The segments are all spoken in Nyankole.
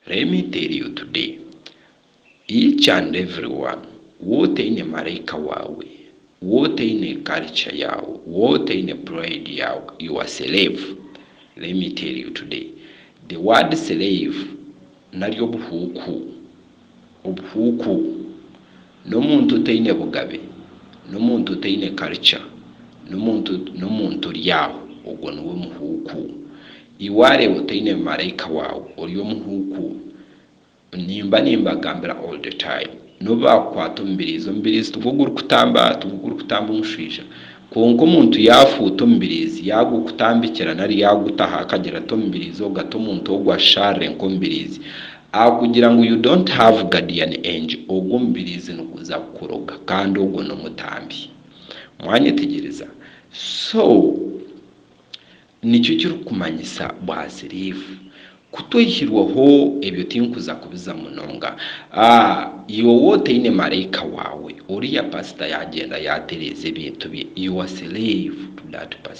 Let me tell you today, each and everyone, waaba otaine maraika waawe, waaba otaine culture yaawe, waaba otaine pride yaawe, you are slave. Let me tell you today, the word slave nari obuhuuku obuhuuku, n'omuntu otaine bugabe, n'omuntu otaine karica, n'omuntu n'omuntu ori aho, ogwo niwe muhuuku. Ei waareeba otaine maraika waawe, ori omuhuuku. Nimba nimbagambira all the time. N'obu baakukwata omubiriizi, omubiriizi tigwo gurikutamba tigwo gurikutamba omushwija. Kwonka omuntu yaafuuta omubiriizi, yaagukutambikira nari yaagutaho akagira ati omubiriizi ogwo, ati omuntu ogwo asharire nk'omubiriizi, Aho kugira ngu you don't have guardian angel ogwo omubiriizi niguza kukuroga kandi ogwo nomutambi. Mwanyetegyereza? So nikyo kirikumanyisa bwaziriivu. Kutwihirweho ebyo tinkuza kubiza munonga. Iwe otaine maraika waawe, oriya pastor yagyenda yatereeza ebintu bye, you are slave to that pastor.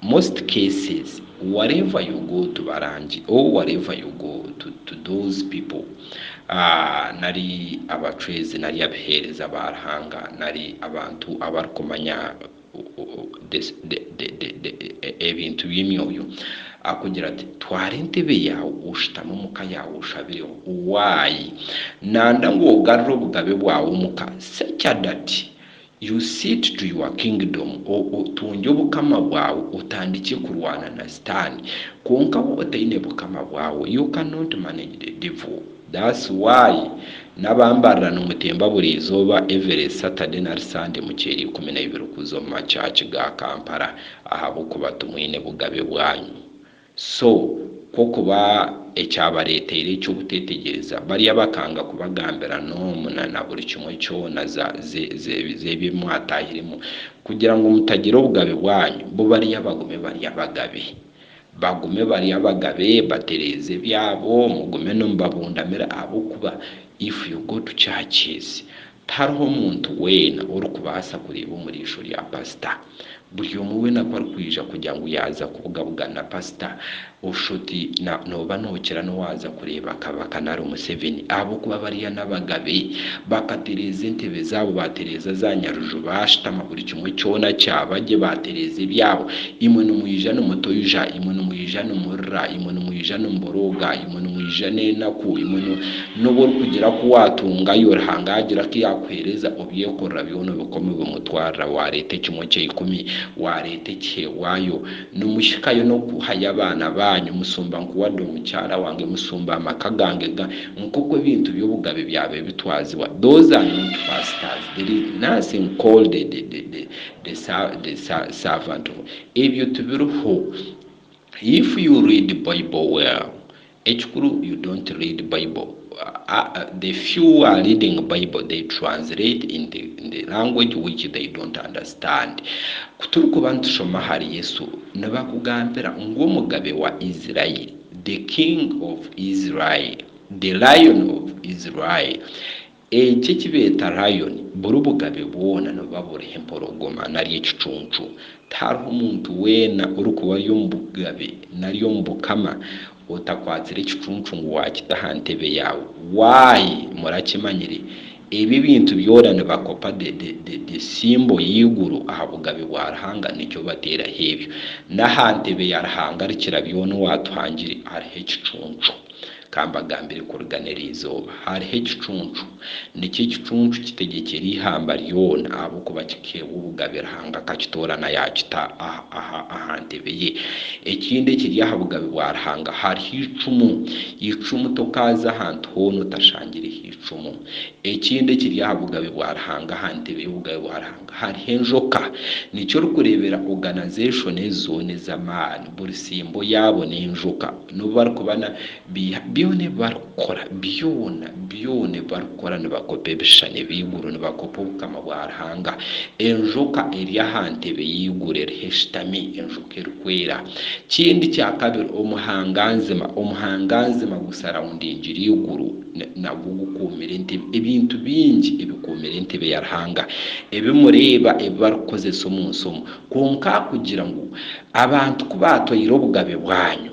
Most cases whatever you go to barangi or whatever you go to to those people nari abacwezi nari abiheereza ba Ruhanga nari abantu abarikumanya the the the ebintu by'emyoyo akugira ati twara entebe yaawe oshutame omu ka yaawe oshabireho. Why? Nanda ngu ogarure obugabe bwawe omu ka. Secadati You sit to your kingdom, otungye obukama bwawe, otandikye kurwana na sitaani, kwonka waaba otaine bukama bwawe, you cannot manage the devil, that's why nabambarira nimutemba buri izooba every Saturday nari Sunday mukyeera ikumi na ibiri kuza omu ma church ga Kampala ahabw'okuba timwine bugabe bwanyu. So kwo kuba ekyabareeteire ekyo buteetegyereza, bariya bakanga kubagambira n'omu na na buri kimwe kyona za, ze, ze, z'ebi mwataahiremu, kugira ngu mutagira obugabe bwanyu, bo bariya bagume bari abagabe. Bagume bari abagabe, batereeze ebyabo, mugume nimubabundamira, ahabw'okuba, if you go to churches, Tihariho muntu weena orikubaasa kureeba omu riisho rya pasita. Buri omwe weena ku arikwija kugira ngu yaaza kubugabugana na pasita, Oshoti na nooba nookira n'owaaza kureeba Kabaka nari Museveni ahabw'okuba bariya n'abagabe. Bakatereeza entebe zaabo, baatereeza za Nyaruju, baashutama buri kimwe kyona kyaba gye, baatereeza ebyabo. Imwe nimwija nimutoija, imwe nimwija nimurira, imwe nimwija nimuborooga, imwe nimwija n'enaku, imwe. N'obu orikugira ku waatungayo, Ruhanga yaagira ku yaakuheereza obyekorera byona obikome bimutwarira, waareeta ekimwe kya ikumi, waareeta ekiheebwayo, nimuhikayo n'okuhayo abaana baanyu, musumba nku wade omukyara wange, musumba amaka gange, ga, nk'oku ebintu by'obugabe byabaire bitwazibwa. Those are not pastors. There is nothing called the, the, the, the, the sa, the sa, servant of. Ebyo tibiriho. If you read Bible well, Ekikuru you don't read bible the few who are reading bible they translate in the in the language which they don't understand kuturikuba nitushoma ahari Yesu nibakugambira ngu omugabe wa Israel the king of Israel the lion of Israel Eki ekibeeta Lion buri bugabe bwona nibuba buriho empologoma nari ekicuncu. Tihariho muntu weena orikuba ari omu bugabe nari omu bukama otakwatsire ekicuncu ngu waakita aha ntebe yaawe. Why? Murakimanyire, ebi ebintu byona nibakopa the the the symbol y'eiguru aha bugabe bwa Ruhanga nikyo bateeraho ebyo. N'aha ntebe ya Ruhanga Arikira byona owaatuhangire hariho ekicuncu. Ka mbagambire kurigana eri izooba hariho ekicuncu. Nikyo ekicuncu kitegyekyera eihamba ryona, ahabw'okuba kikeewa obugabe Ruhanga akakitoorana yaakita aha ntebe ye. Ekindi ekiri aha bugabe bwa Ruhanga hariho eicumu. Eicumu tokaaza ahantu hoona otashangireho eicumu. Ekindi ekiri aha bugabe bwa Ruhanga, aha ntebe y'obugabe bwa Ruhanga hariho enjoka. Nikyo orikureebera oganazeshoni ezi zoona ez'amaani, buri tsimbo yaabo n'enjoka. N'obu barikuba na, biiha, byona ebi barikukora, byona, byona ebi barikukora, nibakopa ebishushani eby'eiguru, nibakopa Obukama bwa Ruhanga. Enjoka eri aha ntebe y'eiguru eriho eshutami, enjoka erikwera. Kindi kya kabiri, omuhanganzima, omuhanganzima gusarawundingire eiguru, na, nagwo gukuumire entebe, ebintu bingi ebikuumire entebe ya Ruhanga, ebi mureeba, ebi barikukozesa omu nsi omu. Kwonka kugira ngu abantu ku baatwaire obugabe bwanyu.